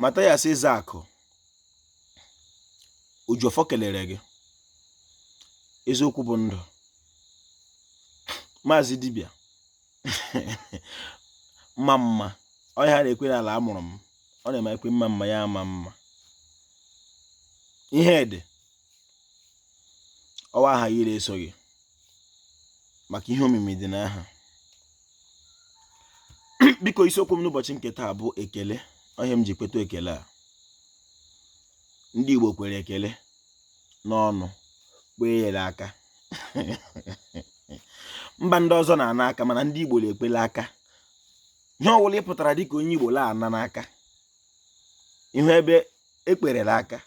Mathias Ezeaku Ojiọfọ kelere gị eziokwu bụ ndụ maazị dibịa mma mma ọ ya a na-ekwe n'ala a mụrụ m ọ na-eme ekwe mma mma ya ama mma ihe dị ọwa aha gị na-eso gị maka ihe omimi dị n'aha biko isiokwu m n'ụbọchị nke taa bụ ekele ọ ya m ji kweta ekele a ndị Igbo kwere ekele n'ọnụ kwee ya la aka mba ndị ọzọ na-ana aka mana ndị Igbo na-ekwe la aka ihe ọwụla ị pụtara dịka onye Igbo la-ana n'aka ị hụ ebe e kwere la aka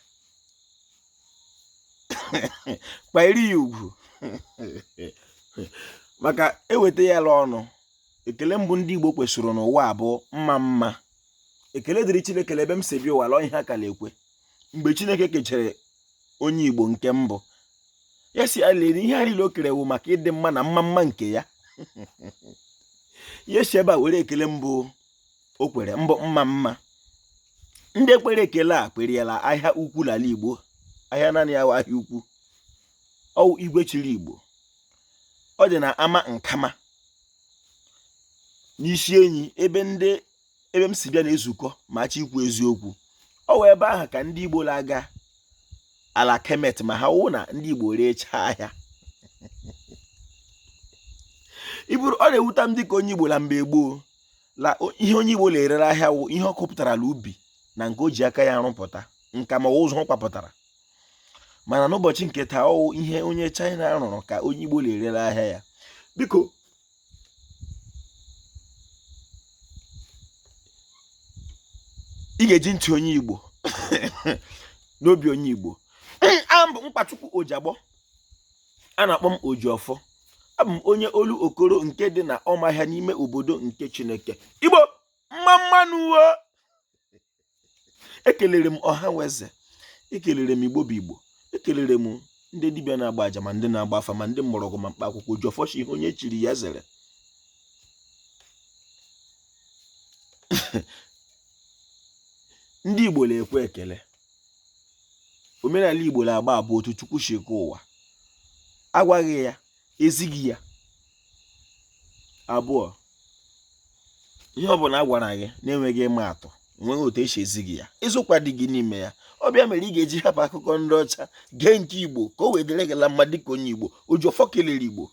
kwanyere ya ugwu maka eweta ya la ọnụ ekele mbụ ndị Igbo kwesịrị n'ụwa bụ mma mma ekele dịrị Chineke ebe m si bịa ụwa lọ ihe a ka na-ekwe mgbe Chineke kechere onye Igbo nke mbụ ya si alere ihe a niile o kere wụ maka ịdị mma na mma mma nke ya ya si ebe a were ekele mbụ o kwere mbụ mma mma ndị kwere ekele a kwere ya la ahịa ukwu n'ala Igbo ahịa naanị ya ahịa ukwu ọwụ igwe chiri Igbo ọ dị na Ama Nkama n'isi enyi ebe m si bịa na-ezukọ ma a chọọ ikwu eziokwu ọwụ ebe ahụ ka ndị Igbo na-aga ala Kemet ma ha wụ na ndị Igbo rechaa ahịa iburu ọ na-ewuta m dịka onye Igbo la mgbe gboo la ihe onye Igbo na-ere la ahịa wụ ihe ọ kọpụtara la ubi na nke o ji aka ya rụpụta nka ma ụzụ ọ kwapụtara mana n'ụbọchị nke taa ọwụ ihe onye China rụrụ ka onye Igbo na-ere la ahịa ya biko ị ga-eji ntị onye Igbo na obi onye Igbo abụ m Mkpachukwu Ojagbọ a na-akpọ m Ojiọfọ abụ m onye Olokoro nke dị na Ọmahịa n'ime obodo nke Chineke Igbo mma mma nụ o ekelere m ọha weze ekelere m Igbo bụ Igbo ekelere m ndị dibịa na-agba aja ma ndị na-agba afa ma ndị mgbọrọgwụ ma mkpa akwụkwọ Ojiọfọ shi ihe onye chiri ya zere ndị Igbo na-ekwe ekele omenala igbo na-agba abụọ otu chukwu si eke ụwa a gwa gị ya e zi gị ya abụọ ihe ọ bụla a gwara gị na-enweghị ịma atụ enweghị otu esi ezi gị ya eziokwu adịghị n'ime ya ọ bụ ya mere ị ga-eji hapụ akụkọ ndị ọcha gee nke igbo ka o wee dịrị gị la mma dịka onye igbo oji ọfọ kelere igbo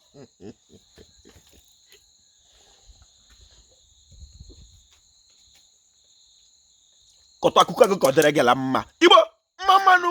kọtụ akụkọ gị ka ọ dịrị gị la mma igbo mma mma nụ